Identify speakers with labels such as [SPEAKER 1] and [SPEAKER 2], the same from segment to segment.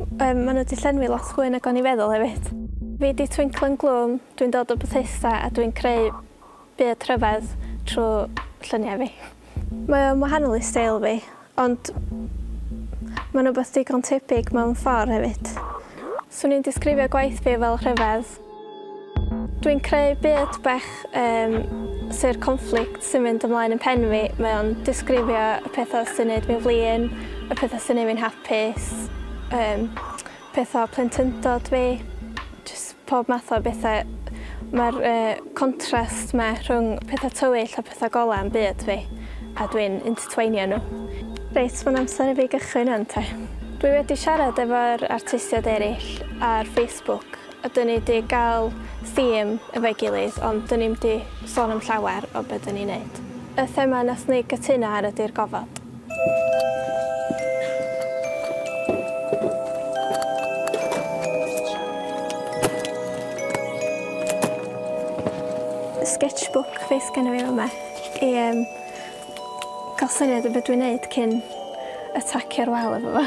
[SPEAKER 1] Yym ma' nhw 'di llenwi lot fwy nag o'n i feddwl hefyd. Fi 'di Twinklen Gloom, dwi'n dod o Bethesda a dwi'n creu byd rhyfedd trwy lluniau fi. Mae o'n wahanol i steil fi, ond mae'n rhywbeth digon tebyg mewn ffordd hefyd. Swn i'n disgrifio gwaith fi fel rhyfedd. Dwi'n creu byd bach um, sy'r conflict sy'n mynd ymlaen yn pen fi. Mae o'n disgrifio y pethau sy'n neud fi'n flin, y pethau sy'n neud fi'n hapus, um, pethau plentyndod fi, just pob math o bethau. Mae'r uh, contrast mae rhwng pethau tywyll a pethau golau yn byd fi, a dwi'n intertweinio nhw. Reit, mae'n amser i fi gychwyn yn te. Dwi wedi siarad efo'r artistiaid eraill ar Facebook Ydyn ni 'di gael theme efo'i gilydd ond 'dyn ni'm 'di sôn am llawer o be' 'dyn ni'n neud. Y thema nathon ni gytuno ar ydi'r gofod. Sketchbook fi sgenno fi fy' 'ma i yym Cael syniad o be dwi'n neud cyn atacio'r wal efo fo.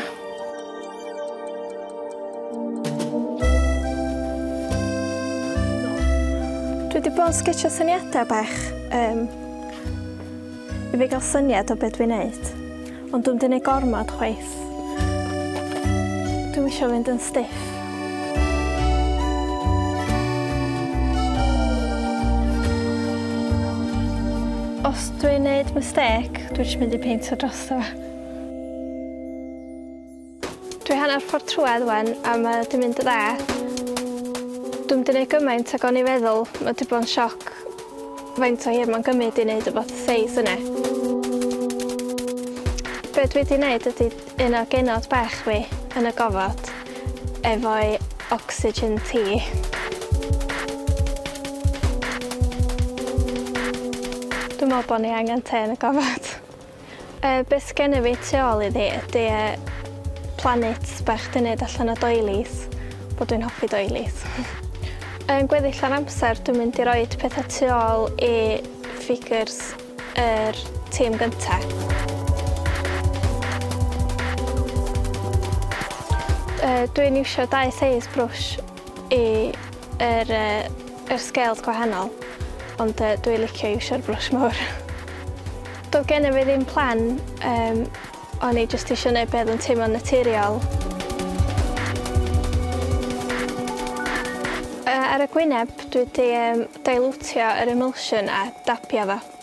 [SPEAKER 1] Dwi 'di bod yn sgetsio syniada bach yym i fi ga'l syniad o be' dwi'n neud ond dw'm 'di neud gormod chwaith. Dwi eisiau fynd yn stiff. Os dwi'n neud mistake, dwi eisiau mynd i peintio dros fe. Dwi hanner ffordd trwedd wen a mae wedi mynd yn dda. Dwi'n mynd i neud gymaint ag o'n i feddwl, mae wedi bod yn sioc. Faint o hir mae'n gymryd i wneud y fath o seis yna? Be dwi 'di wneud ydy un o genod bach fi yn y gofod efo'i oxygen tea. Dwi'n meddwl bod ni angen te yn y gofod. Y beth sgene fi tu ôl iddi ydy yy planit bach dwi'n neud allan o doilies, wel dwi'n hoffi doilies. Yn gweddill yr amser dwi'n mynd i roid petha tu ôl i ffigyr's yr tîm gynta. Yy dwi'n iwsio dau seis brwsh i yr yy yr scales gwahanol ond yy dwi licio iwsio'r brwsh mowr. Do'dd gennyf fi ddim plan yym o'n i jyst isio neud be' o'dd yn teimlo'n naturiol. Yy ar y gwyneb dwi 'di yym dailwtio yr emulsion a dabio fo.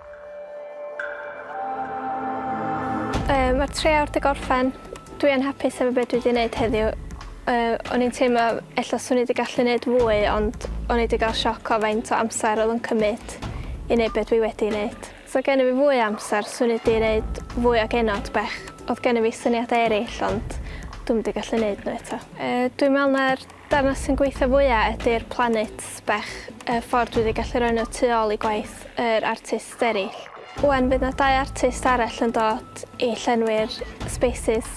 [SPEAKER 1] Yy ma'r tri awr 'di gorffen. Dwi yn hapus efo be' dwi 'di neud heddiw. Yy o'n i'n teimlo ella swn i 'di gallu neud fwy ond o'n i 'di ga'l sioc o faint o amser o'dd yn cymyd i neud be' dwi wedi neud. Sa gennyf fi fwy o amser swn i 'di neud fwy o genod bach. O'dd gennyf fi syniada eryll ond dw'm 'di gallu neud n'w eto. Yy dwi me'wl ma'r Darnau sy'n gweithio fwya ydy'r planets bech y ffordd dwi di gallu roi nhw tu ôl i gwaith yr artists erill. Ŵan fydd na dau artist arall yn dod i llenwi'r spaces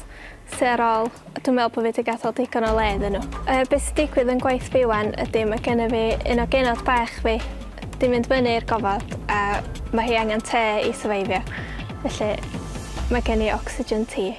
[SPEAKER 1] sy ar ôl a dwi'n meddwl bo fi di gadel digon o le iddyn nhw. Yy be sy'n digwydd yn gwaith fi ŵan ydy ma gennyf fi un o genod bech fi di mynd fyny i'r gofod a ma hi angen te i syfeifio felly ma gen i oxygen tea.